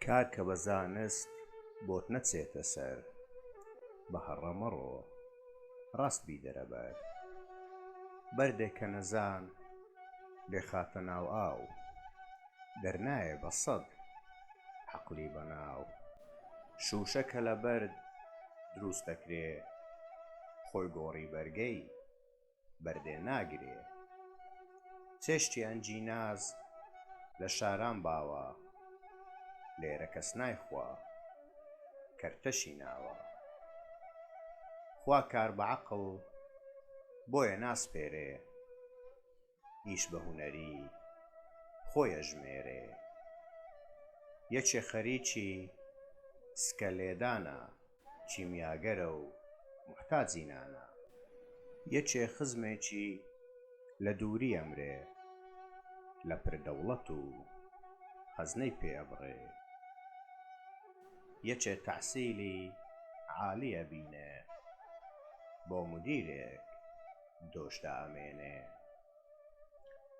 کار کە بە زانست بۆت نەچێتە سەر بە هەڕە مەڕۆ ڕاست بی دەرە بەر بەردێک کە نەزان بێ خاتە ناو ئاو. دەرنایێ بە سەد عەقلی بەناو شووشە کە لە بەرد دروست دەکرێ خۆی گۆڕی بەرگەی بەردێ ناگرێ چێشتی ئەنجیناز لە شاران باوە لێرە کەس نایخوا کەرتەشی ناوە خوا کار بە عەقڵ بۆیە ناسپێرێ. ئیش بە هونەری خۆی ئەژمێرێ. یەکێ خەریکی سکە لێدانە، کیمیاگەرە و موحتاجی نانە. یەکێ خزمێکی لە دووری ئەمرێ، لە پر دەوڵەت و خەزنەی پێ ئەبڕێ. یەکێ تەحسیلی عالی ئەبینێ، بۆ مودیرێک. دۆش دائەمێنێ.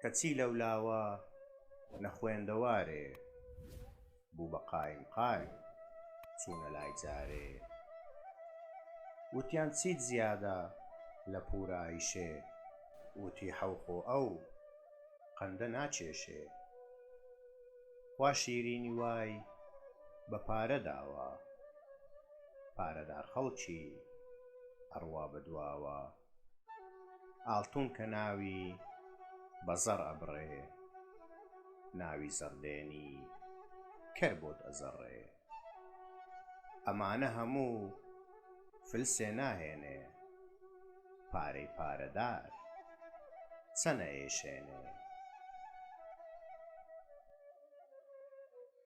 کەچی لەولاوە نەخوێندەوارێ، بوو بە قایم قایم چوونە لای جارێ. وتیان چیت زیادە لە پوورایشێ، وتی حەو خۆ ئەو قەندە ناکێشێ. خوا شیرینی وای بە پارە داوە. پارەدار خەڵکی ئەڕوا بە دواوە ئاڵتون کە ناوی بە زەڕ ئەبڕێ ناوی زەڕدێنی کەر بۆت ئەزەڕێ ئەمانە هەموو فلسێ ناهێنێ پارەی پارەدار چەنە ئێشێنێ.